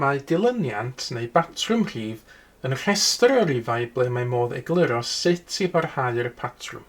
Mae dilyniant neu batrwm rhif yn rhestr o rifau ble mae modd egluro sut i barhau'r patrwm.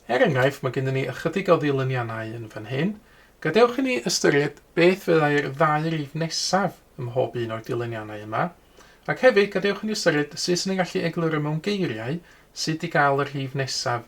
Er enghraifft, mae gennym ni ychydig o ddilyniannau yn fan hyn. Gadewch i ni ystyried beth fyddai'r ddau rif nesaf ym mhob un o'r dilyniannau yma, ac hefyd gadewch i ni ystyried sut 'y ni'n gallu egluro mewn geiriau sut i gael y rhif nesaf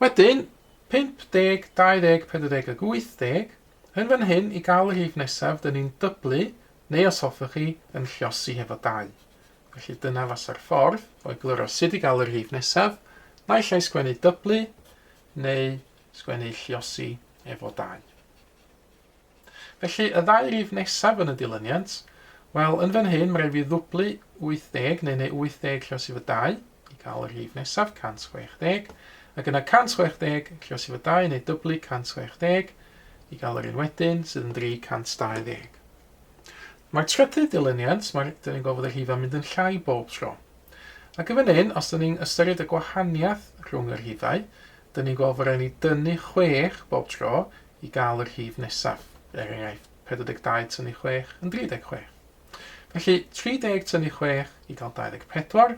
Wedyn, 50, 20, 40 ac 80, yn fan hyn i gael y rhif nesaf, dyn ni'n dyblu, neu os hoffech chi, yn llosi hefo 2. Felly dyna fasa'r ffordd o egluro sut i gael y rhif nesaf, naill ai sgwennu dyblu, neu sgwennu llosi efo 2. Felly, y ddau rif nesaf yn y dilyniant, wel, yn fan hyn, mae rhaid fi ddwblu 80 neu neu 80 rhos i fy 2 i gael y rif nesaf, 160, ac yna 160 rhos i fy 2 neu dyblu 160 i gael yr un wedyn, sydd yn 320. Mae'r trydydd dilyniant, mae, dyn ni'n gofod y rhifau mynd yn llai bob tro. Ac yn fan hyn, os dyn ni'n ystyried y gwahaniaeth rhwng y rhifau, Dyn ni'n gweld fod rhaid ni dynnu chwech bob tro i gael y rhif nesaf. Er enghraifft, 42 tynnu chwech yn 36. Felly, 30 tynnu chwech i gael 24,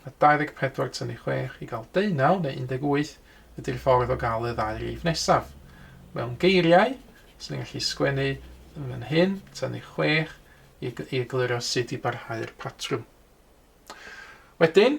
a 24 tynnu chwech i gael deunaw neu 18 ydy'r ffordd o gael y ddau rif nesaf. Mewn geiriau, swn i'n gallu sgwennu yn fan hyn, tynnu chwech, i egluro sut i barhau'r patrwm. Wedyn,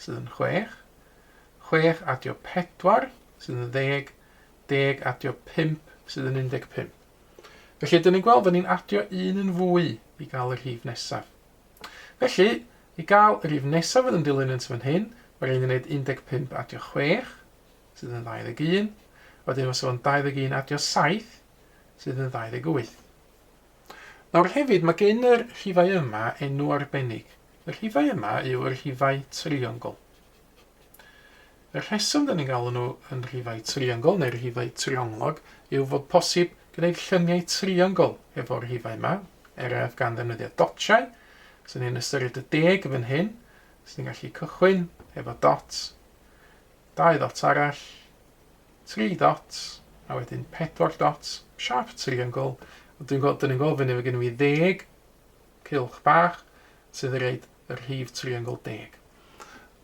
sydd yn chwech, chwech adio pedwar sydd yn ddeg, deg adio pump sydd yn undeg pump. Felly, dyn ni'n gweld, dyn ni'n adio un yn fwy i gael y rhif nesaf. Felly, i gael y rhif nesaf fydd yn dilyn yn fan hyn, mae rhaid i ni wneud 15 adio 6, sydd yn 21, wedyn mae sef o'n 21 adio 7, sydd yn 28. Nawr hefyd, mae gen yr rhifau yma enw arbennig. Y rhifau yma yw y rhifau triongl. Y rheswm dyn ni'n galw nhw yn rhifau triongl neu rhifau trionglog yw fod posib gwneud llyniau triongl efo'r rhifau yma, er ef gan ddefnyddio dotiau. Os ni'n ystyried y deg fan hyn, os ni'n gallu cychwyn efo dot, dau ddot arall, tri dots, a wedyn pedwar dots, siâp triongl, a dwi'n gweld, dyn ni'n gweld fyny, mae gen i fi ddeg cylch bach sydd yn rhaid y rhif triongl deg.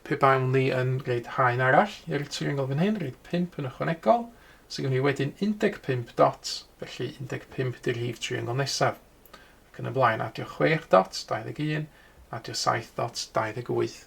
Pe bawn ni yn rhaid haen arall i'r triongl fan hyn, rhaid 5 yn ychwanegol, sydd gen i wedyn 15 dots, felly 15 di'r rhif triongl nesaf. Ac yn y blaen, adio 6 dots, 21, adio 7 dots, 28.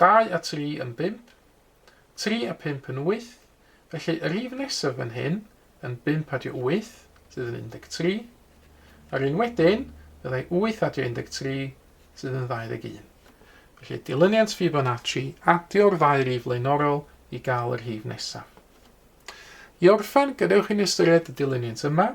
dau a tri yn bump, tri a phump yn wyth, felly y rif nesaf fan hyn yn bump adio wyth, sydd yn 13, a'r un wedyn fyddai wyth adio 13, sydd yn 21. Felly dilyniant Fibonacci, adio'r ddau rif flaenorol i gael y rhif nesaf. I orffen, gadewch i ni ystyried y dilyniant yma,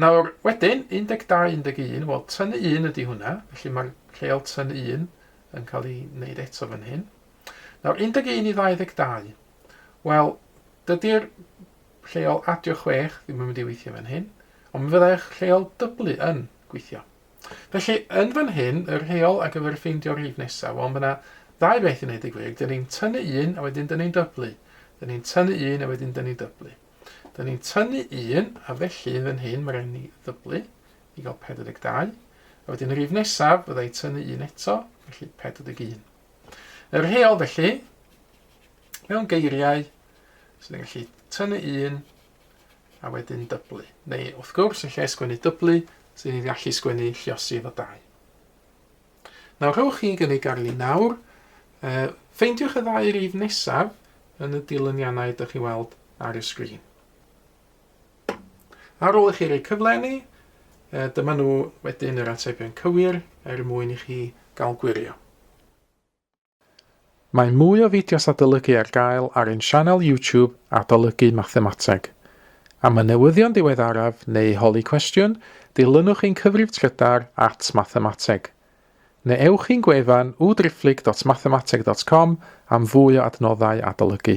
Nawr, wedyn, 12, 11, wel, tynnu un ydy hwnna, felly mae'r rheol tynnu un yn cael ei wneud eto fan hyn. Nawr, 11 i 22, wel, dydy'r rheol adio 6 ddim yn mynd i weithio fan hyn, ond mi fyddai'r rheol dyblu yn gweithio. Felly, yn fan hyn, y rheol ar gyfer ffeindio rif nesaf, wel, mae yna ddau beth i wneud y gwir, dyn ni'n tynnu un a wedyn dyn ni'n dyblu, dyn ni'n tynnu un a wedyn dyn ni'n dyblu. Da ni'n tynnu un, a felly yn fan hyn mae rhaid ni ddyblu i gael 42. A wedyn y rif nesaf, fydda i'n tynnu un eto, felly 41. Yr heol felly, mewn geiriau, sy'n ni'n gallu tynnu un, a wedyn dyblu. Neu, wrth gwrs, yn lle sgwennu dyblu, sy'n ni'n gallu sgwennu lliosi efo dau. Nawr rhowch chi gynnig ar li nawr. Uh, ffeindiwch y ddau rif nesaf yn y dilyniannau ydych chi'n weld ar y sgrin. Ar ôl i chi roi cyflenni, uh, dyma nhw wedyn yr atebion cywir er mwyn i chi gael gwirio. Mae mwy o fideos adolygu ar gael ar ein sianel YouTube Adolygu Mathemateg. Am y newyddion diweddaraf neu holi cwestiwn, dilynwch ein cyfrif trydar at Mathemateg. Neu ewch i'n gwefan www.driphlyg.mathemateg.com am fwy o adnoddau adolygu.